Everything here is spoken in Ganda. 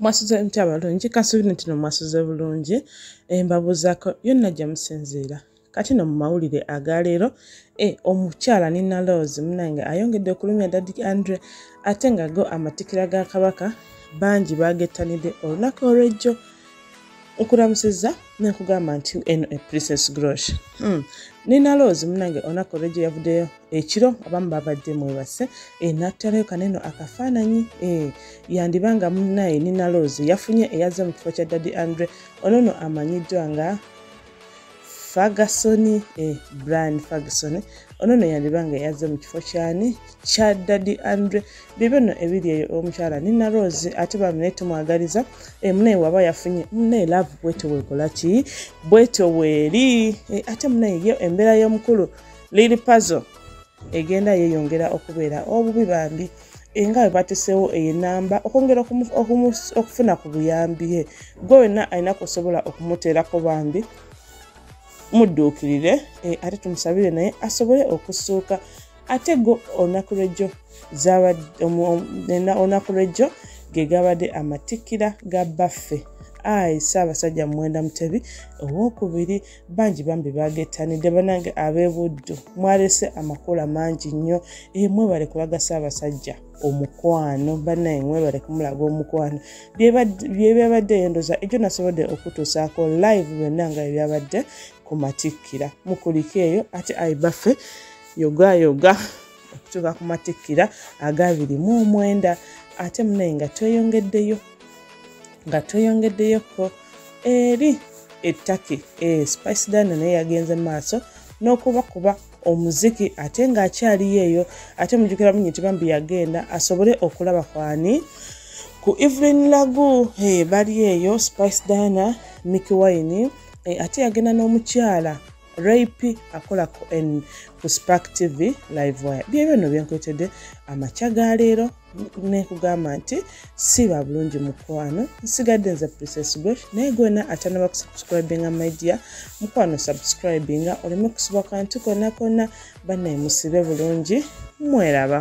mwasuze mutya balungi kasuubira nti no mwasuze bulungi eh, mbabuuzaako yonna gye musinziira kati no mu mawulire agaleero e eh, omukyala nina laws munange ayongedde okulumya dadi andre ate nga go amatikira ga kabaka bangi bagettanidde olunaku olwejjo nkulamusiza nekugamba nti eno e princess grosh hmm. nenaloozi munange onaku olwejo yavuddeyo ekiro abamu babadde mwebase eh, nattalayo kaneno akafaananyi eh, yandiba nga munaye ninaloozi yafunye eyaze mu kifo kya daddy andre onono amanyiddwa nga ferguson eh, brian ferguson ono no yandiba nga yazze mu kifo kyani kya dadi andre bibyo no ebiri eyo omukyala nina rose ate bamune tumwagaliza eh, munaye waba yafunye munaye love bwete wekola ki bwete weeri eh, ate munaye yo embeera y'omukulu lili pazo egenda yeyongera okubeera obubi bambi nga bwe bateseewo eyo enamba okwongera okufuna ku buyambi he gwe wenna alina kusobola okumuteerako bambi mudduukirire eh, ate tumusabire naye asobole okusuuka ate go olunaku lwejjo olunaku lwejjo ge gabadde amatikkira ga baffe ayi ssaabasajja muwenda mutebi owokubiri bangi bambi bagettanidde banange ab'ebuddu mwalese amakula mangi nnyo e mwebale kulagasa abasajja omukwano banaye mwebale kumulaga omukwano byebyabadde yendoza ekyo nasobodde okutuusaako live byonna nga ebyabadde ku matikkira mukulika eyo ate ayi baffe yogayoga okutuuka ku matikkira agabiri mu omwenda ate munaye nga tweyongeddeyo nga tweyongeddeyo ko eri ettaki e eh, spice dana naye yagenze maaso n'okubakuba omuziki ate ng'akyaliyo eyo ate mujukira munyi nti bambi yagenda asobole okulaba kwani ku evelyn lagu hey, eh, bali eyo spice dana micky wine hey, eh, ate yagenda n'omukyala rape akola ku spark tv live wire byebyo no byenkwetedde amakya ga leero nekugamba nti siba bulungi mukwano nsigadde nze princess gwe naye gwena atanaba kusubscribinga media mukwano subscribinga oleme kusiba kantu kona kona banaye musibe bulungi mweraba